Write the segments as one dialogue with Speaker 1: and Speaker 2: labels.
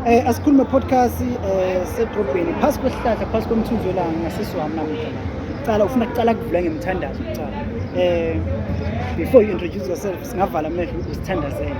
Speaker 1: Eh asikhulume podcast eh sedrobheni phansi kwesihlahla phansi komthunzi welanga ngasisiwami namuhla. Cala ufuna kuqala kuvula ngemthandazo kuqala. Eh before you introduce yourself singavala amehlo usithandazele.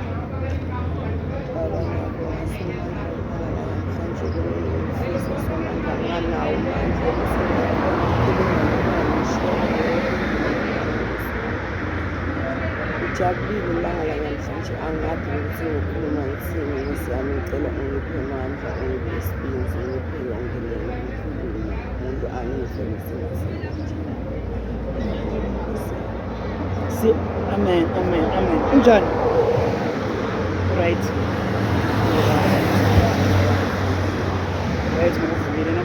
Speaker 2: Ngijabulile ilanga lanamhlanje angazi ukuthi ngikhuluma ngithini ukuthi yami ngicela ungiphe mandla ungiphe isibindi ungiphe yonke le ngikhulume umuntu angizwe ngisenathi amen amen
Speaker 1: amen unjani right right ngokuvumile no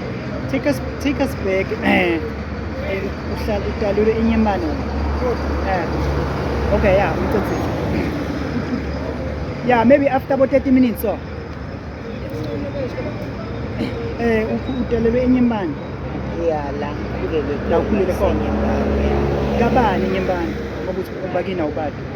Speaker 2: Take
Speaker 1: us, take us back. Eh, eh, uhlala udalule inyemane. Eh. Okay, yeah, ucacile. Yeah, maybe after about 30 minutes so. Eh, udalule inyemane. Yeah, la
Speaker 2: kulele. La kulele
Speaker 1: khona.
Speaker 2: Kabani
Speaker 1: inyemane? Ukuthi ubakina ubadi.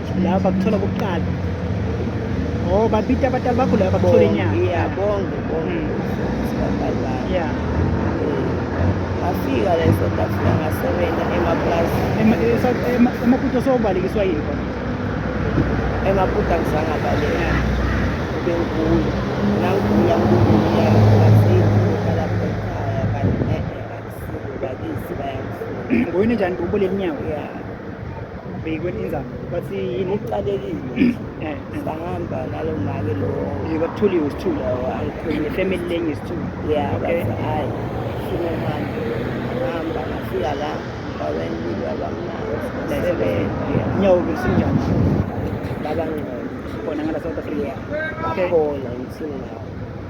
Speaker 2: laba bakuthola
Speaker 1: kokuqala oh babita abatali bakho laba bakuthola inyanga yeah bonke
Speaker 2: bonke mm. yeah
Speaker 1: ngafika
Speaker 2: la eSouth Africa ngasebenza emaplazini emaputo
Speaker 1: sobalekiswa yini khona
Speaker 2: emaputo angizange abaleka bengigula nangigula ngikubuya ngoyini njani ubuleli
Speaker 1: nyawo yeah
Speaker 2: bhekweni
Speaker 1: inzalo bathi yini iqalekile eh.
Speaker 2: sangihamba nalo make lo yekakuthuliwe
Speaker 1: isithulu family
Speaker 2: lenye isithulu
Speaker 1: ya bathi
Speaker 2: hhayi funa manje ngihamba ngafika la baweni biba bamnanyawo besinjani
Speaker 1: babangcono
Speaker 2: khona
Speaker 1: ngala south africa bakhona
Speaker 2: ngisingawo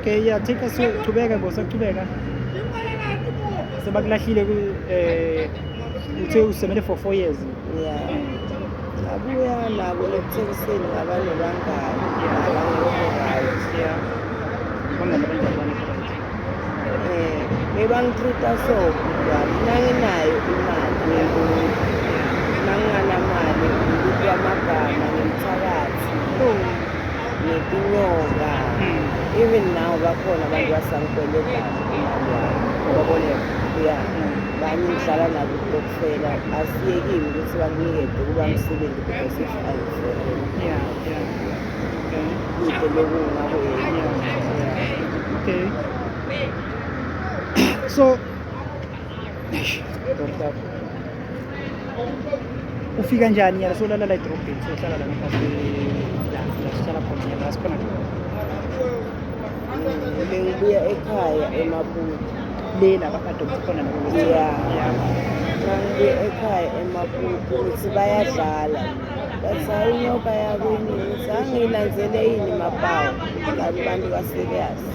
Speaker 1: Okay, yeah, take us to Tubega, go, sir, Tubega. So, back last year, eh, you tell us, seven for four years. Yeah.
Speaker 2: Abuya na kule kutshengiseni ngabanye bangani
Speaker 1: eh
Speaker 2: bebangitreata so kuba mina nginayo imali nanginganamali ngikuthi amagama ngimthakathi ngetinyoka hmm. even now bakhona abantu basangikweletayo babone
Speaker 1: ya
Speaker 2: banye ngidlala nabo ukutokufela asiyekile ukuthi banginikede ukuba msebenzi because if ayifela
Speaker 1: kude loku
Speaker 2: ngabo okay
Speaker 1: so Eish. ufika njani yala solala la edrobheni sohlala la nasihlala khona yala sikhona
Speaker 2: bengibuya ekhaya emabuti le la
Speaker 1: bakadokta khona ya ngibuya
Speaker 2: ekhaya emabuti ukuthi bayadlala bathi ayinyoka yakwini ngithi angiyilanzele yini mapawu kanti bantu kasebeyazi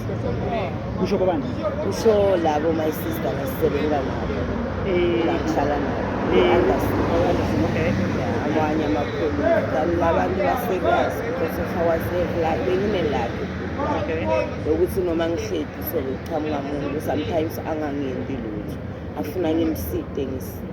Speaker 2: kusho
Speaker 1: kobani kusho labo
Speaker 2: my sister ngasisebenza nabo ngakuhlala nabo
Speaker 1: amanye
Speaker 2: amakhulu abantu basekwazi because of our safe life benginelakhe
Speaker 1: lokuthi noma
Speaker 2: ngihledi sekuqhamuka muntu sometimes angangimbi lutho afuna ngimside ngisi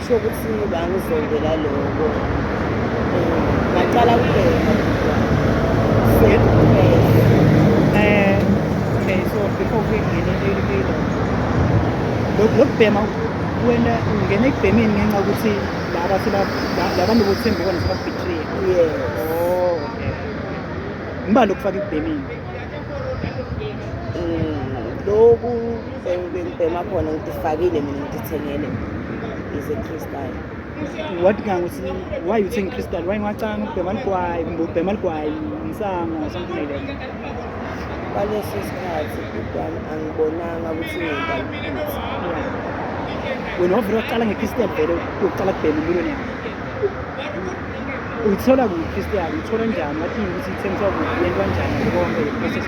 Speaker 2: Kusho ukuthi bangizondela lokho ngaqala kubheka
Speaker 1: eh, okay so before we get into lokubhema wena ungena ekubhemeni ngenxa ukuthi laba labantu bothembekona sebabhitriye yes oh okay ngibani lokufaka ekubhemeni
Speaker 2: mm, lokhu Sengibhema khona ukuthi fakile mina ngithengele is a crystal. What
Speaker 1: gang was why you think crystal? Why ngacanga ukubhema ligwayi kumbe ubhema ligwayi insango or something like that?
Speaker 2: Kwaleso sikhathi ubhami angibonanga ukuthi ngibaliphuza.
Speaker 1: Wena wavele waqala nge-crystal vele uqala kubhema empilweni yakho. Uyithola kuphi i-crystal? Uyithola njani? Wathini ukuthi ithengiswa kuphi? Yentwa njani? Konke le process.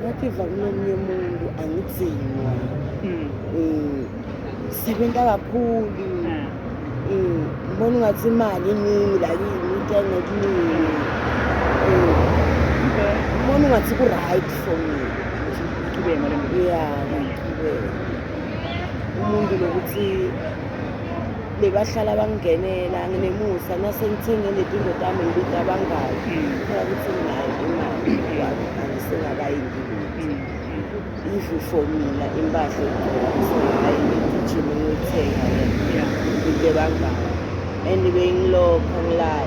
Speaker 2: ngativa kunomunye umuntu angidzinwa mm. mm. sebenza kakhulu mm. mm. mbona ungathi imali iningi lakini itenge kuningi mbona ungathi ku-right for me ya
Speaker 1: ngaqhubeka
Speaker 2: umuntu lokuthi bebahlala bangingenela nginemusa nasengithenge nezinto zami ngibiza abangani thola hmm. ukuthi nginayo imali yabo angisengakayingibuthe hmm. even for mina impahla egqoka ngisengakayingigijime ngiyothenga into ebangani and bengilokho ngilala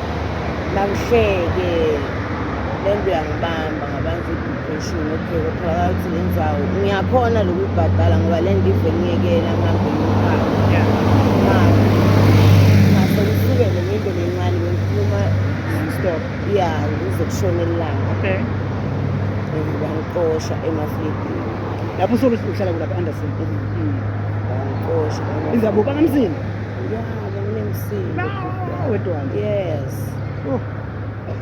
Speaker 2: Nangihleke le nto uyangibamba ngabantu i-depression okay kutholakala ukuthi le ndzawo ngiyakhona lokuyibhadala ngoba le nto ive ngiyekela ngihambe ngikhaya ngase ngisuke nenye into lencane bengikhuluma
Speaker 1: stop ya
Speaker 2: ngize kushone elilanga
Speaker 1: okay bangixosha
Speaker 2: emaflidini lapho usuke
Speaker 1: uhlala kulapha anderson bangixosha
Speaker 2: inzabuka
Speaker 1: kamzini Yeah,
Speaker 2: nginemsindo. Wedwana.
Speaker 1: Yes. Oh.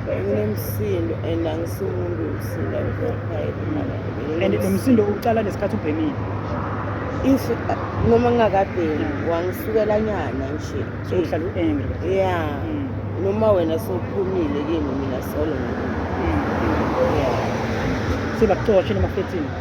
Speaker 2: Nginemsindo and angisumuntu umsindo angizokhayi. And
Speaker 1: nomsindo uqala nesikhathi ubhemile. If
Speaker 2: uh, noma ngingakabhemi wangisukela nyana nje. So uhlala u-angry.
Speaker 1: Yeah. Mm.
Speaker 2: Noma wena sowuphumile kimi mina solo. Mm. Yeah.
Speaker 1: Sebakuxoshe noma 13.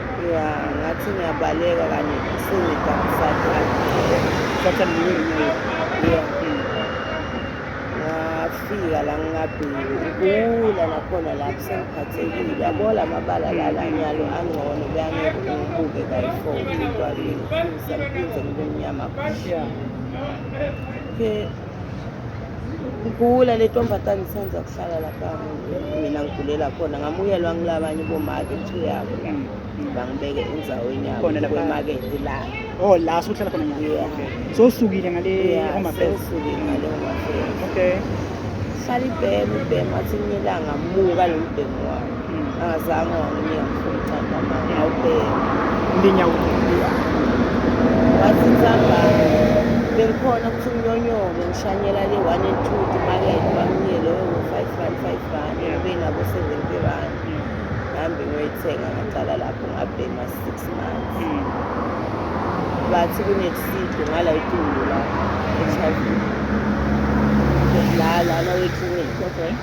Speaker 1: ya
Speaker 2: ngathi ngiyabaleka kanye sengidakusathatha
Speaker 1: ngiwile ya
Speaker 2: ngafika la ngingabheki ukula nakhona la kusengiphathekile yabo la mabala lala nyalo angcono beyangeke ngibuke kayi-four kwakini ngisamkhuze ngibe mnyama
Speaker 1: okay
Speaker 2: ngigula le ntombazane senza kuhlala lapha mina ngigulela khona ngamuyelwa ngilabanye bomake two yabo la mm, mm. bangibeke enzaweni yaboemaketi
Speaker 1: la
Speaker 2: o oh, la suhlala
Speaker 1: khona so
Speaker 2: usukile
Speaker 1: ngale usukile ngale
Speaker 2: okay
Speaker 1: hlala
Speaker 2: ibhema ibhema athi ngilanga muka lo mbhemu wami Angazange wanginika ngifuna uthanda mama awubheke. Ndinya
Speaker 1: ubuya.
Speaker 2: Wathi thamba bengikhona ukuthi unyonyoke ngishanyela le 1 and 2 timakethe bamnike loyo ngo-5 rand 5 rand benabo 70 rand ngihambe ngiyoyithenga ngaqala lapho ngabhema 6 months bathi kunesido ngala itulo la echayi la lana weklinikhi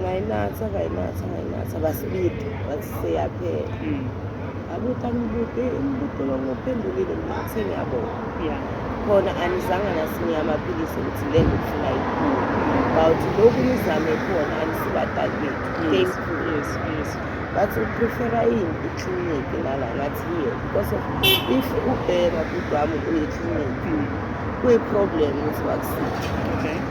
Speaker 1: ngayinatha
Speaker 2: ngayinatha ngayinatha basibidi wathi seyaphela mm. abuthi angibuti imbuti
Speaker 1: lokungiphendulile
Speaker 2: ngithe ngiyabona khona anizanga nasinye amaphilisi ukuthi le ngifuna ikhulu bawuthi lokhu nizame khona anisibadali bethu
Speaker 1: bathi uprefera
Speaker 2: yini ikliniki lala ngathi yiyo because of if ubheka bhuti wami uye ekliniki mm. kuyi-problem ukuthi wakusithi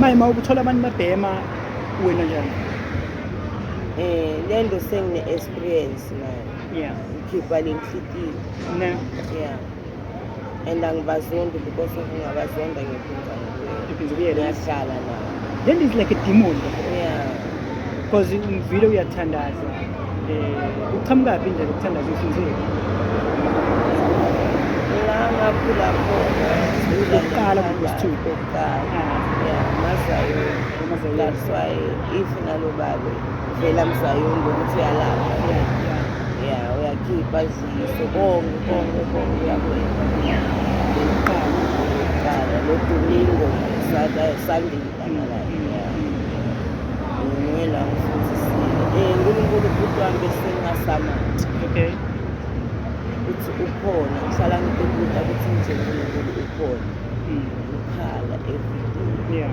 Speaker 1: maye ma
Speaker 2: ubuthola abantu
Speaker 1: babhema wena njani eh
Speaker 2: le nto sengine-experience nayo yeah ngikhipha
Speaker 1: le
Speaker 2: nhlikiyo yeah and angibazondi because ngingabazonda ngiphinda
Speaker 1: ngiyahlala
Speaker 2: nayo then is like a
Speaker 1: demon because ngivile uyathandaza um eh, uqhamukaphi indlela ukuthandaza ufunzile
Speaker 2: ngakhula khona ukuqala
Speaker 1: kukuthupha ukuqala
Speaker 2: ya mazayoni that's
Speaker 1: why
Speaker 2: if nalo babe vela mzayoni ngokuthi uyalapha
Speaker 1: ya
Speaker 2: uyakhipha Sibonge bonke bonke yakwethu. Iqala
Speaker 1: lo Domingo
Speaker 2: sada Sunday kamala. Ngiyela futhi si. Eh uNkulunkulu ubhuti wami besengasamathi.
Speaker 1: Okay.
Speaker 2: Uthi ukhona, uhlala ngikubuta ukuthi nje uNkulunkulu ukhona. Ukhala every day. Yeah.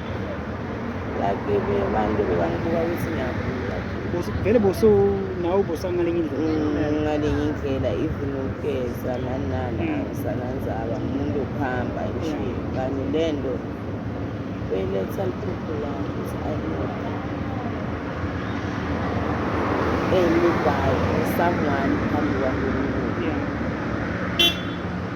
Speaker 2: like abantu bebangibuka ukuthi ngiyagula vele boso
Speaker 1: nawe bosa ngalenye indlela mm, ngalenye indlela
Speaker 2: even ukugeza nani nani mm. awusananzaba umuntu okuhamba nje kanti le nto beyiletha liphupho lami ukuthi ayinoda engibhayo someone phambi kwami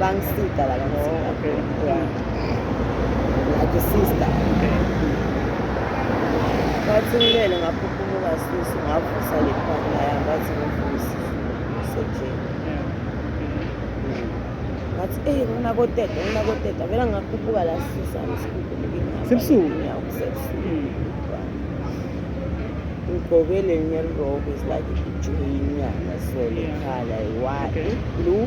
Speaker 2: Bangisida la kangisida. Okay. Yeah. Like a sister. Okay. Bathi ngilele ngaphuphumuka sisi ngavusa le partner yami bathi ngivusi. Sejeni. Ngathi eh ngina koteta ngina koteta vela ngakhuphuka la sisi angisikuphi ngingaba. Sebusuku?
Speaker 1: Yeah,
Speaker 2: kusebusuku. Ngigqoke le nyelrobe is like ijoyini yana so lekhala yi-white,
Speaker 1: blue.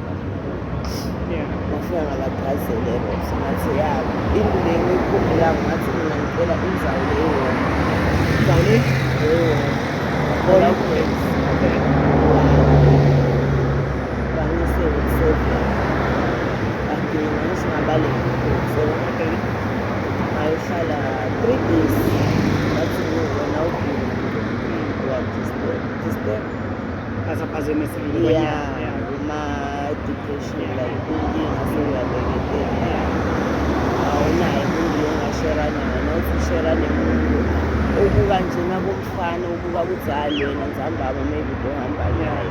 Speaker 1: Bafika
Speaker 2: ngabagazele Rosa ngathi ya into le ngiyikhumbula ngathi mina ngicela
Speaker 1: inzawu
Speaker 2: le yona. Inzawu le?
Speaker 1: Yona.
Speaker 2: Bangise ukusebenzisa. Bagcina ngisingabaleki. So,
Speaker 1: ngayohlala
Speaker 2: three days. Ngathi wena ubhili. Wabudisturb. Disturb. As a person,
Speaker 1: it's a yeah, yeah.
Speaker 2: my depression, yeah. like thinking, I feel like everything. Yeah. Awunayo umuntu ongashera naye, nawuthi ushera nemuntu obuka njena komfana obuka kuzali yena nzambaba maybe udohamba naye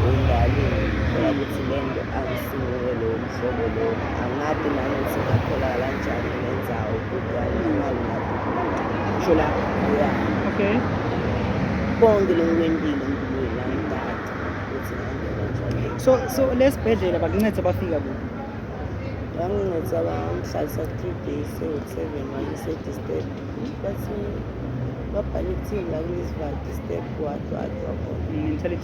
Speaker 2: engalini, thola ukuthi le nto Singeke lowo mhlobo lowo angadi nangokuthi ungatholakala kanjani ngenzawo kudwani imali ngadi kusho la
Speaker 1: uya okay konke lokhu
Speaker 2: kwempilo empilweni la ngidadi ukuthi ngangena njani so so lesibhedlela
Speaker 1: bakuncede bafika kuphi
Speaker 2: bangincedisa bangihlalisa three days ewu-seven wangisedistep bathi babhale ithini la kulesivali distep wadwadwa khona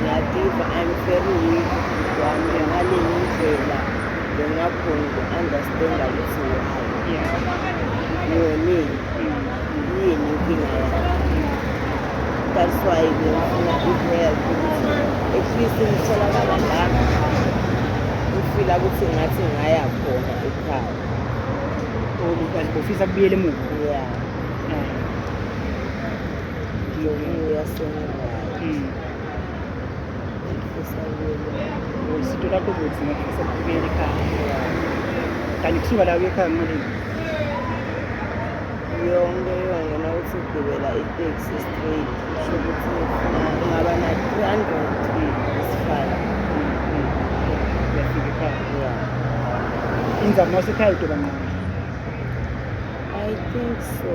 Speaker 2: Ngiyativa I'm very weak wami ngaleni ndlela bengakhoni uku-understanda ukuthi why
Speaker 1: ngonini
Speaker 2: yini inkinga yakhe that's why bengifuna i-help ukuthi at least ngitholakala la ngifila ukuthi ngathi ngaya khona ekhaya
Speaker 1: ufisa kubuyela emuva yeah
Speaker 2: Usito lakho
Speaker 1: ukuthi ngifisa ukubuyela ekhaya. Kanti kusuka la uye ekhaya ngimalini?
Speaker 2: Yonke yongena uthi ugibela iteksi straight. Kusho ukuthi ungaba na 300 isifala. Uyafika
Speaker 1: ekhaya.
Speaker 2: Inzama wasekhaya
Speaker 1: udoba nqondo.
Speaker 2: I think so.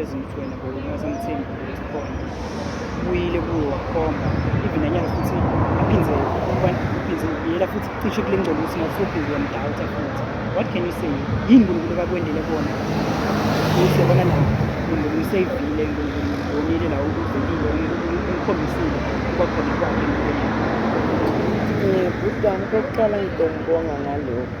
Speaker 1: ezimthweni ngokunasemthini khona ubuyile kuwo wakhomba even anyanga futhi aphinde aphinde yela futhi cishe kule ngcobo ukuthi ngasuphinde yamdawutha futhi what can you say yini unkulunkulu kakwendele kona ukuthi yabona la unkulunkulu useyivile unkulunkulu ubonile la ukuvelile umkhombisile kwakhona kwakhe empilweni yami um bhuti
Speaker 2: wami kokuqala ngidongibonga ngalokhu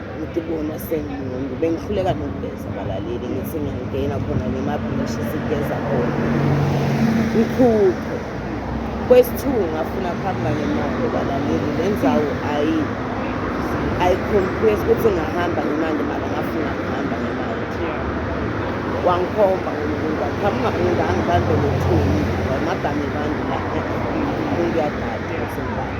Speaker 2: ukuthi bona sengimuntu bengihluleka nokugeza abalaleli ngithi ngiyangena khona ngemabhishi sigeza khona ngikhuphe kwesithuku ngafuna kuhamba ngemali balaleli le ndzawo ayi ayicompress ukuthi ngahamba ngemali mara ngafuna kuhamba ngemali wangikhomba ngomuntu aqhamuka umuntu angibambe ngothuli ngamagama abantu la umuntu uyadada ukuthi ngibani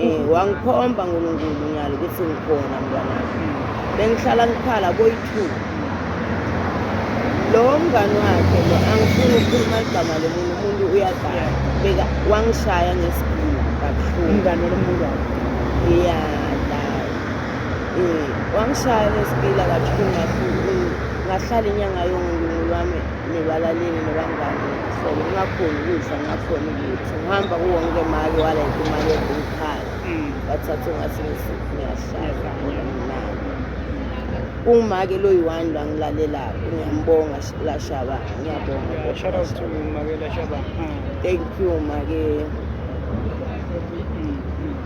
Speaker 2: Eh, wangikhomba nkulunkulu nyalo ukuthi ngikhona mntwanami bengihlala ngikhala boyi-two lo mngani wakhe lo angifuni ukukhuluma igama lomuntu umuntu uyagaya beka wangishaya ngesigila kabuhlungu umngane walomuntu
Speaker 1: wakho ya la
Speaker 2: um wangishaya ngesigila kabuhlungu kakhulu ngahlala inyanga yonke ngilwami nebalalini nebangani so ngingakhoni ukudla ngakhona ukuthi ngihamba kuwonke mali walayike imali ebukhaya mm. bathathe ngathi ngiyashaya umake lo yi-one lo angilalelayo ngiyambonga lashaba ngiyabonga
Speaker 1: thank you
Speaker 2: make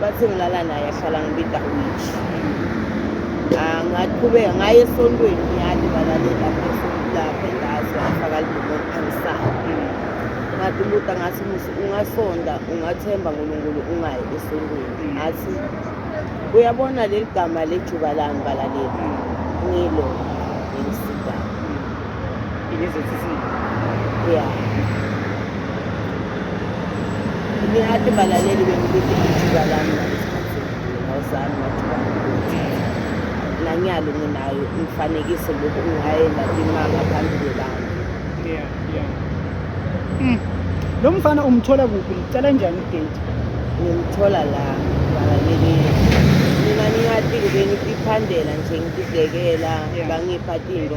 Speaker 2: Bathi ngilala naye ahlala ngibida witch. Ah ngaqhubeka ngaye esontweni ngiyali balalela lapha endazi afaka lidumoni angisali. Ngathi umuntu angathi musi ungasonda ungathemba uNkulunkulu ungayi esontweni. Ngathi uyabona leli gama lejuba lami balalela ngilo. Ngizothi sini? Yeah. Ngihati balaleli bengibithi ithuba lami ngawuzami ngathuba nanyalo nginayo umfanekiso lokhu ngihayela imanga phambili lami. Yeah, yeah. Mm.
Speaker 1: Lo mfana umthola kuphi? Ngicela njani idate? Ngimthola
Speaker 2: la balaleli. Mina ngingathi-ke bengiphandela nje ngididekela bangipha tinto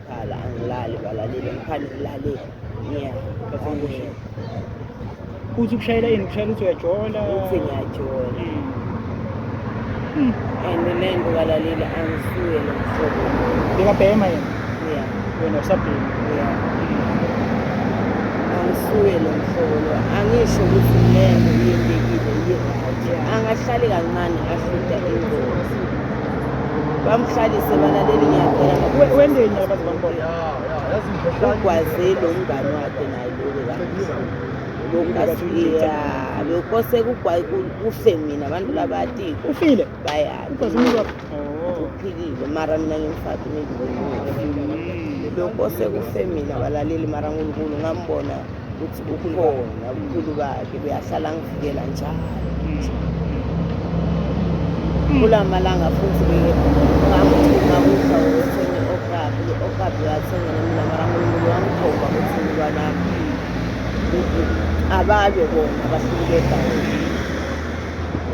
Speaker 2: Khala angilali balaleli ngiphani ngilale yeah bafunguhle
Speaker 1: uthi ukushayela yini ukushayela uthi uyajola uthi ngiyajola
Speaker 2: hmm. and le nto balaleli angisuye nomhlobo bekabhema yena
Speaker 1: yeah wena usabhema yeah
Speaker 2: angisuye lo mhlobo lo angisho ukuthi le nto iyendekile iye-right angahlali kancane afuda ingozi bamhlalise balaleli ngiyacela wendeni abaze
Speaker 1: bambona
Speaker 2: ugwaze lo mngane wakhe naye lokasiya lokho sekufe mina abantu labati ufile bayauphilile oh. mara mina ngimfati lokho sekufe mina balaleli mara nkulunkulu ngambona ukuthi ukhona ubukhulu bakhe kuyahlala ngivikela njalo kula malanga futhi ngamthuma kudla wethenga okabi okabi wathenga mina mara mulungu wangikhomba ukuthi mntwanami ababe bona abasuke egaweni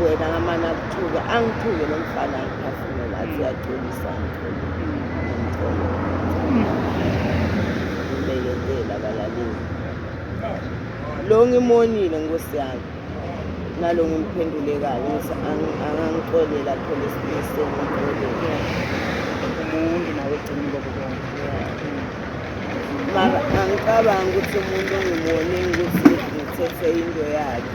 Speaker 2: wena ngamane akuthuke angithuke lo mfana ngiphafumela athi uyaxolisa lo ngimonile nkosi yami nalo ngimphendulekayo ngithi angangixolela khona isilise ngixolela umuntu nawe
Speaker 1: gcina lokho
Speaker 2: mara angicabangi ukuthi umuntu ongimone ukuthi ngithethe into yakhe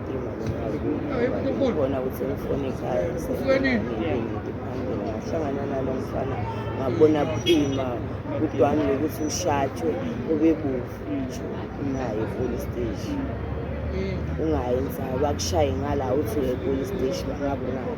Speaker 2: khona ukuthi ngifone ekhaya ngahlangana nalo mfana ngabona buima kudwani lokuthi ushatshwe ubebuvu naye police station ungayenza bakushaye ngala uthi uye police station bangakunaki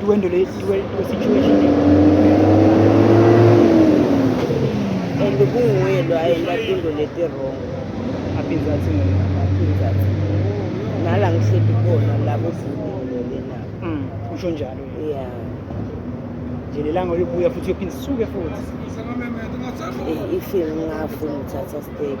Speaker 1: Duwendo le duwendo situation.
Speaker 2: And kunguye lo ayenda into leti
Speaker 1: wrong. Aphinza athi mina. Aphinza
Speaker 2: athi. Nala ngihleli khona labo sibulele na. Mm. Usho njalo.
Speaker 1: Yeah. Nje lelanga uyobuya futhi uyophindisuke futhi. Ifile
Speaker 2: ngafu ngithatha step.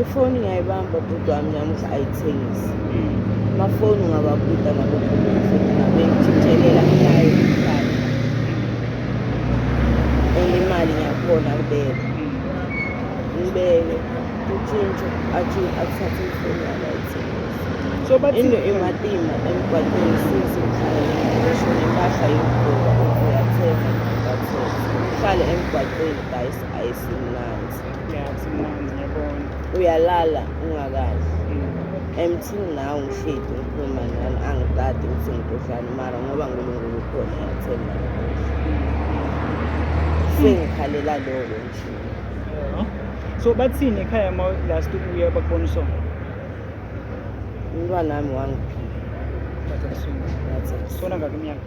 Speaker 1: ifoni
Speaker 2: ngiyayibamba bhuti wami ngiyamuthi ayithengisi amafoni hmm. ungababuda nabo bengitshintshelela ngayo isikhathi and imali ngiyakhona kubeka hmm. ngibeke utshintshe athi athathe ifoni yami ayithengisi into
Speaker 1: imatima
Speaker 2: emgwaqeni sisi ngisho nempahla yokugqoka uthi uyathenga ngathenga uhlale emgwaqeni guys ayisimnandi
Speaker 1: uyalala
Speaker 2: ungakazi emthini mm. nawe ngihledi ngikhuluma nani angikade ukuthi ngidodlani mara ngoba nkulunkulu ukhona yathemba sengikhalela loko nje
Speaker 1: so bathini ekhaya ma last ubuya bakubona usona umntwana
Speaker 2: wami wangiphila sona ngakiminyaka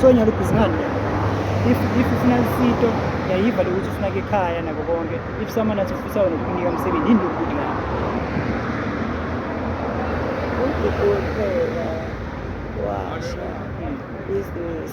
Speaker 1: so nyalo ubhizinani if if ufuna isito yayiva lokuthi ufuna ke ekhaya nako konke if someone athi ufisa wena ukunika umsebenzi yini lokuthi na udokotela
Speaker 2: washa business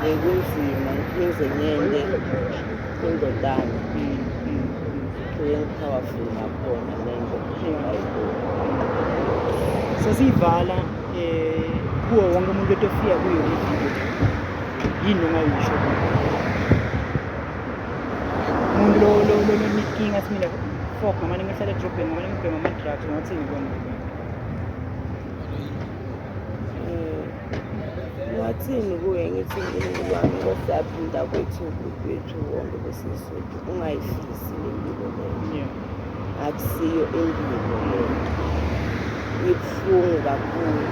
Speaker 2: bekunzima ngiphinde ngende indodana kuyengiphawaful ngakhona lento
Speaker 1: sesiyivala um kuwo wonke umuntu etofika kuyo ividiyo yini ongayisho umuntu lonenkinga simile fok noma ningehlala edrobheni noma ningibhema ama-drugs ngathini kona
Speaker 2: Ngathini kuye ngithi uNkulunkulu wami ngohlaphi mntakwethu wethu wonke besizothu ungayihlisi le mpilo leyo akusiyo impilo leyo ibuhlungu kakhulu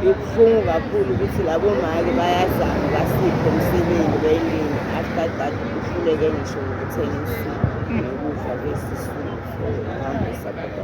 Speaker 2: ibuhlungu kakhulu ukuthi labo mali bayazama basiphe umsebenzi belini after that uhluleke ngisho ngokuthengisa nokudla kwesisulu hambisa kodwa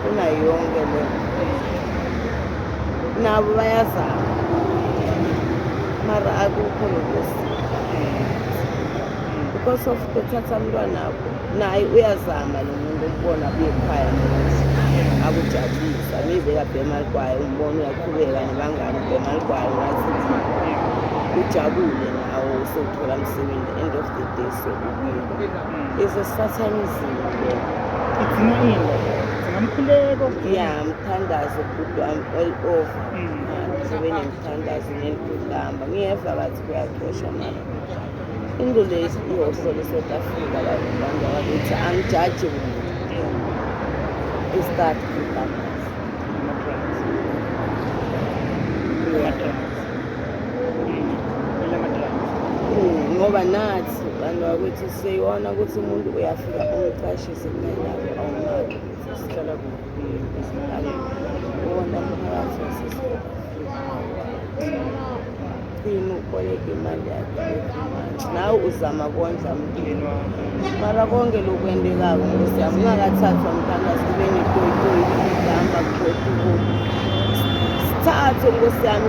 Speaker 2: kunayo yonke le nabo bayazama mara akukho lokusi because of kuthatha mntwana abo naye uyazama lo muntu ukubona abuye ekhaya akujabulisa maybe ekabhema ligwayo umbona uyakhubeka nebangani ubhema ligwayo ngathi ujabule nawo usewuthola msebenzi end of the day sokubuya Is a satanism. Idzinga
Speaker 1: ini? Idzinga mkhuleko. Yeah, mthandazo
Speaker 2: good one all over. Mm. Ngizobe nemthandazo ngentuhlamba. Ngiyeva bathi kuyacosha mara. Into le ihosho leSouth Africa abantu abantu abakuthi angijaji muntu. Is that good one? Yeah. Ngoba nathi Kanti wakuthi siyona ukuthi umuntu uyafika umqashise kunendawo awunaki ukuthi sihlala kuphi izindawo uwona mphakathi wasesini ukoleka imali yakhe ekhumanje nawe uzama kondla mntwini mara konke lokwendekako nkosi yami ungakathathwa mthandazi kube netoyitoyi ihamba kugoduko sithathe nkosi yami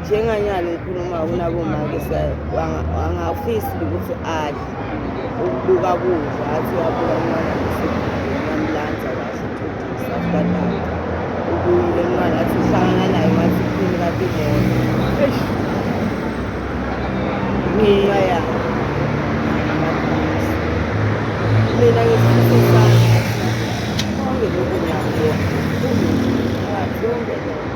Speaker 2: njenganyalo ngikhuluma kunabomake angafisi ukuthi adle ukubuka kudla athi uyabuka umntwana ngamlanza kahle uthutisa kubadala ubuyile umntwana athi uhlangana naye wathi iphini kade ibona ngiya ya mina ngisisesana konke lokhu ngiyakubona konke lokhu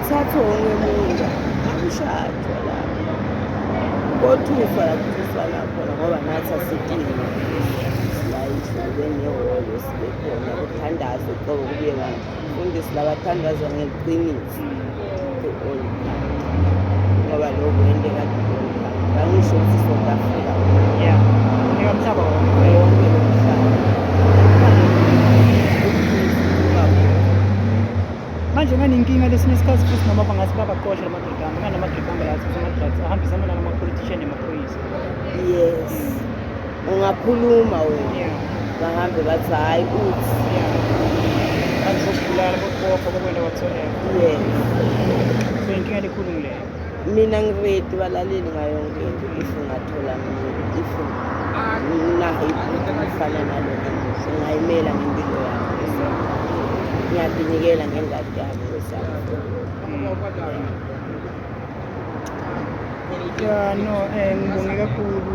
Speaker 2: Thatha wonke muntu akushajwa la kothuswa lakuthuswa lakhona ngoba nathi asidingi silayishe benehholo sibekhona kuthandazwe qobo kubuye ngani fundisi labathandazwa ngeqiniso ngoba lokhu into ekade bangisho ukuthi south africa
Speaker 1: yeah
Speaker 2: ngikamhlaba wonke
Speaker 1: manje nganenkinga lesinye isikhathi futhi noma bangathi babaqosha la madodana nganama dodana yathi ama-drugs ahambisana nalama-politician nemaphoyisa yes
Speaker 2: ungakhuluma wena yeah bahambe bathi hhayi uthi yeah
Speaker 1: kanti bokubulala bokubopha bokwenda kwatholeka yes so inkinga elikhulu ngileyo Mina ngiready
Speaker 2: balaleli ngayo yonke into if ngathola if nginaifana nalo ngingayimela ngempilo yami ngiyadinikela ngengadi yami wesami ya no um
Speaker 1: ngibonge kakhulu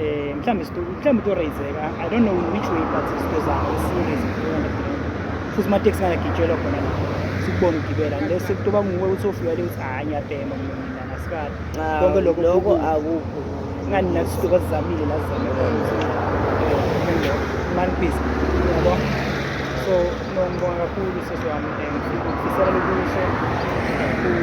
Speaker 1: eh mhlawumbe mhlawumbe to raiseka i don't know which way but sizozama serious futhi ama taxi ngagitshelwa khona la sikubona ugibela lese kutoba nguwe uthi ofika le uthi hayi ngiyabhema mina ngasikade konke lokho lokho
Speaker 2: akukho ngani la sitoba
Speaker 1: sizamile la sizamile man peace yabo so ngibonga kakhulu seswami and ngifisela lokuhle kakhulu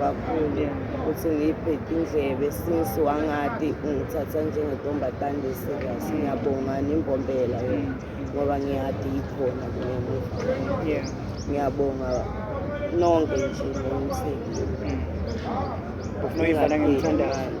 Speaker 2: kakhulu ukuthi ngiyibheke indlebe since wangadi ungithatha njengentombazane serious ngiyabonga nimbombela yona ngoba ngiyadi yikhona kunemuva ngiyabonga nonke nje nomthekile ufuna uyidlala ngimthandayo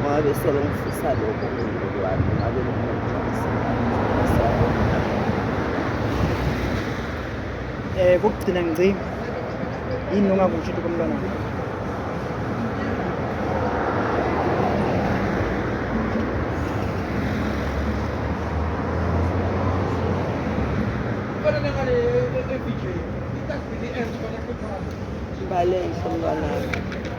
Speaker 2: ngoba besele ngifisa lokho kululu wami ngabe um
Speaker 1: kokugcina ngicini yini ongakusho ukuthi komntwana Valeu, São
Speaker 2: Leonardo.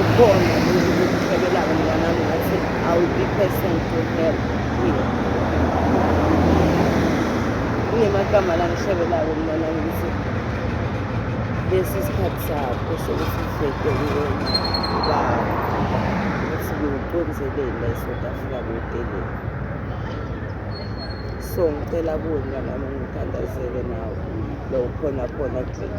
Speaker 2: Ukhona ukuhlebelana mnganami ngathi I will be present to help here. Kunemagama la ngihlebelayo mnganami ukuthi lesi sikhathi sakho sokuthi uhleke kuyona uba ukuthi ngiwuconzeleni la eSouth Africa kuwuteleni. So ngicela kuwe mnganami ungithandazele nawe lo ukhona khona kule.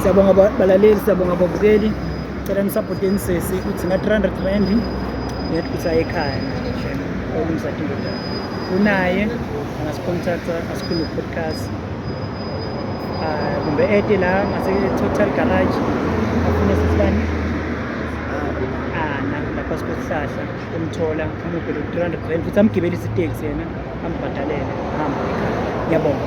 Speaker 1: siyabonga balaleli siyabonga babukeli cela nisapoteni sesi uthi nga-300 rand ngiyathi ukuthi aye ekhaya olumsati indodana unaye angasicontacta asikhulume podcast ah, kumbe ete la ngase-total garage afune sesibani ana ah, lapha sikuhlahla Umthola umuphe lo 300 rand futhi amgibelise iteksi yena ambhadalele hamba ekhaya. Ngiyabonga.